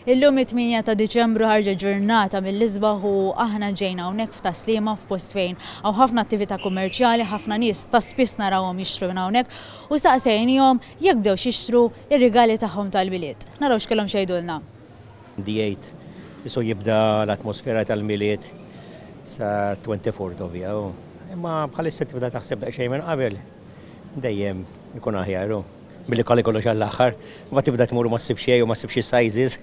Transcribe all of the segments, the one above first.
Illum it-tmienja ta' Diċembru ħarġet ġurnata mill-isbaħ u aħna ġejna hawnhekk f'Tas-Sliema f'post fejn hawn ħafna attività kummerċjali, ħafna nies ta' spiss narawhom jixtru minn hawnhekk u saqsejniehom jekk bdewx jixtru r-rigali tagħhom tal-Milied. Naraw x'kellhom x'jgħidulna. Għandi jgħid, isu jibda l-atmosfera tal-Milied sa twenty fourth of jew, imma bħalissa tibda taħseb daqsxejn minn qabel, dejjem ikun aħjar hu. Billi kalli kollox għall-aħħar, mbagħad tibda tmur u ma ssib xejn jew ma ssibx is-sizes.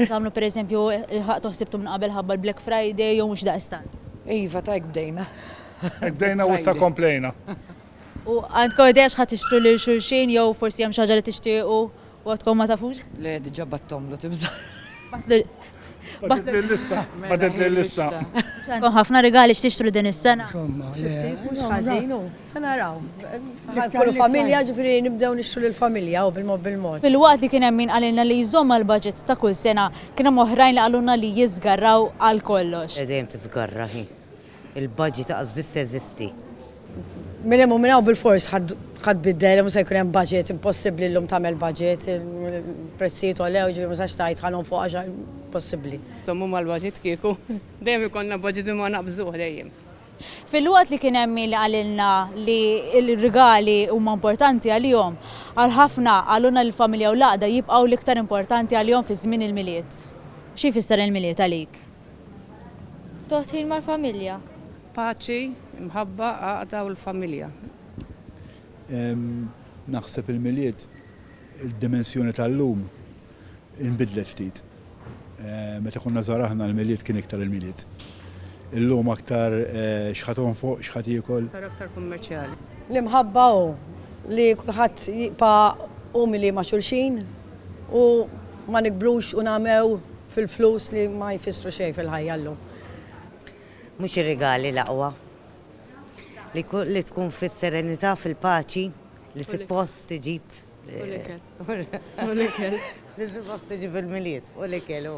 Tagħmlu pereżempju l-ħaqtu ħsibtu minn qabel ħabba l-Black Friday jew mhux daqstant? Iva, ta' hekk bdejna. Hekk bdejna u issa komplejna. U għandkom idea x'ħa tixtru lil xulxin jew forsi hemm xi ħaġa li tixtiequ u għadkom ma tafux? Le, diġà bgħatthomlu, tibża'. Batitli l-lista. Mela, Batitli l-lista. Għandkom ħafna rigali x'tixtru din is-sena? Insomma, Xi le. ftit, mhux No, ħażin, no. u se naraw. Bħal kull Iktar- familja, ġifieri nibdew nixtru lill-familja, u bil-mod bil-mod. Filwaqt li kien hemm min qalilna li jżomm mal-budget ta' kull sena, kien hemm oħrajn li qalulna li jiżgarraw għal kollox. Dejjem tiżgarra hi. Il-budget laqas biss jeżisti. Minn hemm u minn hawn bilfors ħa tbiddel, mhux se jkun hemm budget, impossibbli llum tagħmel budget, il-prezzijiet għolew, jiġifieri ma tistax tgħid ħa nonfoq għax impossibbli. Żommu mal-budget kieku. Dejjem ikollna budget imma naqqbżuh dejjem. Filwaqt li kien hemm min qalilna li r-rigali huma importanti għalihom, għal ħafna qalulna li l-familja u l-għaqda jibqgħu l-iktar importanti għalihom fi żmien il-Milied. Xi jfisser il-Milied għalik? Toħt ħin mal-familja. Paċi, imħabba, għaqda u l-familja. Naħseb il-Milied, id-dimensjoni tal-lum inbidlet ftit. Meta konna żgħar aħna l-Milied kien iktar il-Milied. Illum aktar x'ħa tonfoq, x'ħa tiekol. Sar aktar kummerċjali. L-imħabba hu li kulħadd jibqa' umili ma' xulxin u ma nikbrux u nagħmew. Fil-flus li ma jfissru xejn fil-ħajja llum. Mhux ir-rigali l-aqwa. Li tkun fis-serenità, fil-paċi, li suppost iġib. U l-ikel. Li suppost iġib il-Milied. U l-ikel, hu.